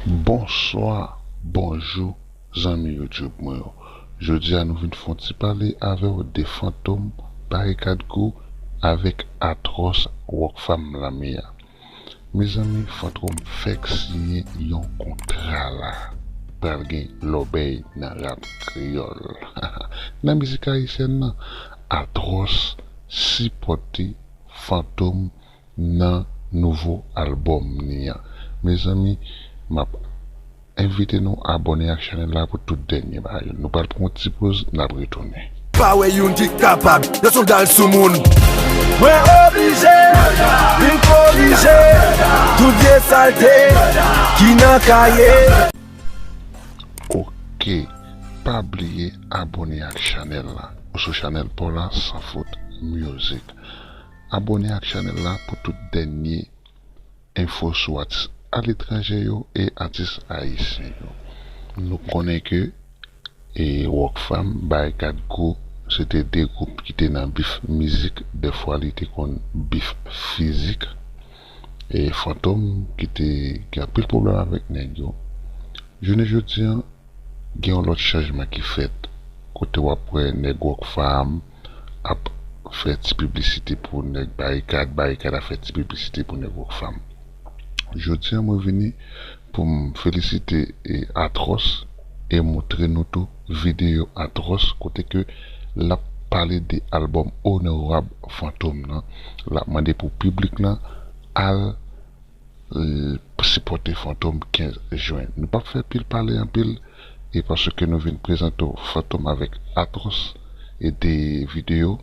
Bonswa, bonjou zanmi YouTube mwen yo. Jodia nou vin fon ti pale avèw de Fantom, Barikad Crew avèk Atròs Rockfam Lamia. Mezanmi Fantrom fèk siyen yon kontra la, pral gen lòbèy nan rap kreyòl. Nan mizik ayisyèn nan, Atròs sipòte Fantom. nan nouvo album ni an mezanmi map envite nou abone ak chanel la pou tout dènye bagay yo nou pral pran yon ti poz nap retounen. Pa wè youn ki kapab, yo son dal sou moun. Mwen oblije vin korije tout vye salte ki nan kaye. Ok pa bliye abone ak chanel la ou sou chanel paw la san fot music. Abone ak chanel la pou tout dènye enfo sou atis aletranje yo e atis ayisyen yo. Nou konnen ke e Rockfam, Barikad Crew se te 2 gwoup ki te nan bif mizik, dèfwa li te konn bif fizik. E Fantom ki te gen anpil pwoblèm avèk nèg yo. Jounen jodi an, gen yon lòt chanjman ki fèt kote w ap wè nèg Rockfam, ap fè ti piblisite pou nèg Barikad, Barikad ap fè ti piblisite pou nèg Rockfam. Jodi a mwen vini pou m felisite Atròs e moutre nou tou videyo Atròs kote ke l ap pale de albòm Onorab Fantom nan, l ap mande pou piblik lan al. Sipote fantom 15 juin. Nou pap fè pil pale anpil e paske nou vin prezante w fantom avèk Atròs e 2 video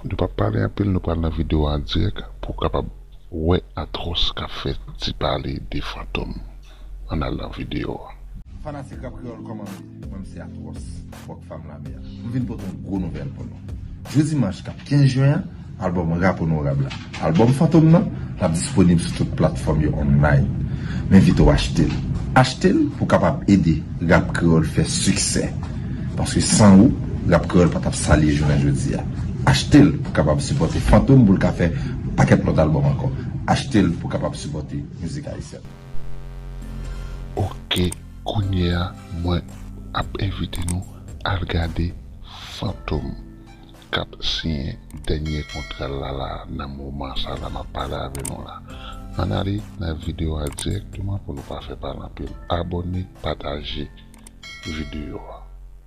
nou pap pale anpil nou pral nan video an dirèk pou w kapab wè Atròs kap fè ti pale de fantom. an al nan video a. Fanatik Rap Kreyol koman nou ye? Mwen mse Atroce, Rock Fam Lame a. M vin pote yon gwo nouvèl pou nou. Jou dimanch kap 15 jen an, albòm Rap Onorab la, albòm Fantom nan, lap disponib sou tout platfòm yo online. M envite w achte l. Achte l pou w kapab ede Rap Kreyol fè siksè. Paske san ou, Rap Kreyol pa tap sa li ye jounen jodi a. Achte l pou w kapab sipòte Fantom pou l ka fè pakèt lòt albòm ankò. Achte l pou w kapab sipòte mizik ayisyèn. Ok kounye a mwen ap envite nou al gade Fantom kap siyen dènye kontral la la nan moman sa la map pale avè nou la ann ale nan video a dirèkteman pou nou pa fè pale anpil abòne pataje video a.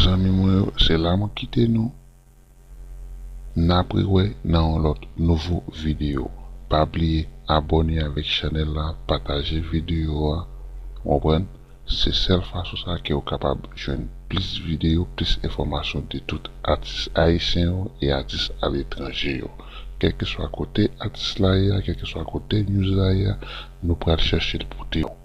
Zanmi mwen yo se la mwen kite nou nap re wè nan yon lòt nouvo video pa bliye abòne avèk chanèl la pataje video a ou konprann se sèl fason sa kew kapab jwenn plis video plis enfòmasyon de tout atis ayisyen yo e atis aletranje yo kèlkeswa kote atis la ye a kèlkeswa kote news la ye a nou pral chachel pote nou.